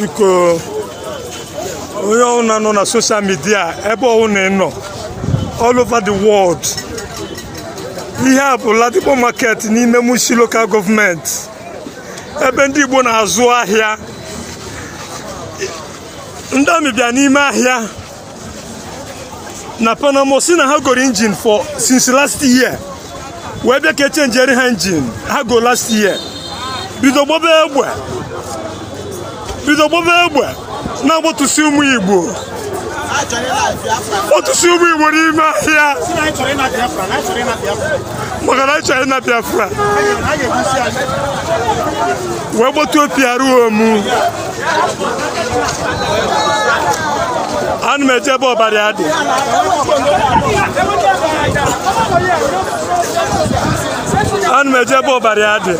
biko onye ọbụla nọ na soshal midia ebe ọbụla ị nọ all over the world ihe a bụ Ladipo market n'ime Mushin local gọọmenti ebe ndị Igbo na-azụ ahịa ndị amị bịa n'ime ahịa na Paramo sị na ha goro injin for since last year wee bịa ka e chenjere ha injin ha go last year bido gbaba egbe bido gbaba egbe na-agbatusi ụmụ igbo gbatusi ụmụ igbo n'ime ahịa maka na anyị chọrọ ịna biafra wee gbatuo PRO mụ ana m eje ebe ọbara ya dị ana m eje ebe ọbara ya dị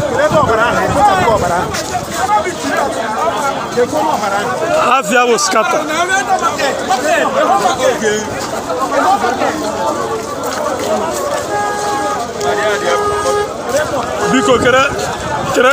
afa ya bụ Oskata biko kere kere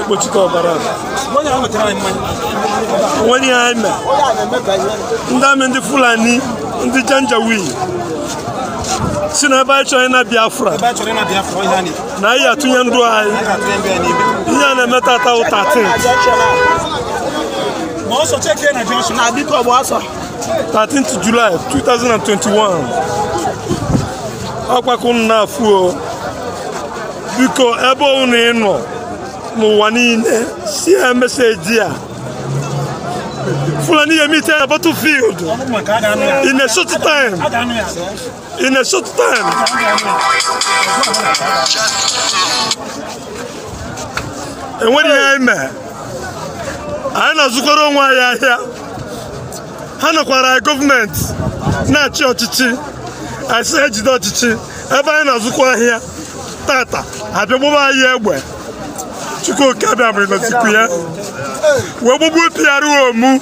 ekpochite ọbara o nwere ihe anyị mere ndị amị ndị fulani ndị janjawi si na ebe anyị chọrọ ịna biafra na anyị atụnye ndụ anyị ihe a na-eme tata bụ thirteen thirteenth July 2021 ọkpakụ nna afuo biko ebe unu nọ n'ụwa niile share message a Fulani ya meet na battlefield in a short time in a short time e nwere ihe anyị mee anyị na-azụkọrọ onwe anyị ahịa ha nọkwara gọọmenti na-achị ọchịchị a sị ha jide ọchịchị ebe anyị na-azụkwa ahịa tata abịa gbaba anyị egbe chukwu oke abịama ị nọzikwu ya wee gbagbuo PRO mụ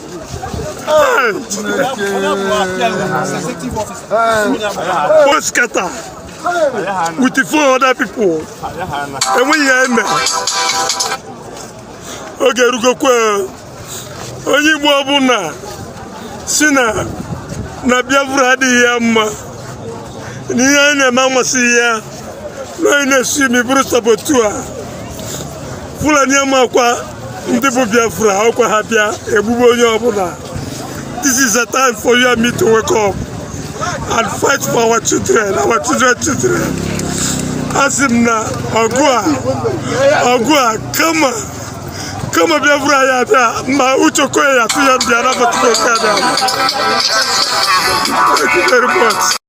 Oskata with the four other people enweghị ya eme oge erugokwa onye Igbo ọbụla sị na na Biafra adịghị ya mma na ihe anyị na-eme amasịghị ya na anyị na-esi imi bụrụ saboteur Fulani amakwa ndị bụ Biafra ọkwa ha bịa egbugbu onye ọbụla this is a time for you and me to wake up and fight for our children our children children asị m na ọgụ a ọgụ a kama kama bia vura ya bia ma ucho ko ya tu ya bia na ba tu ko ka bia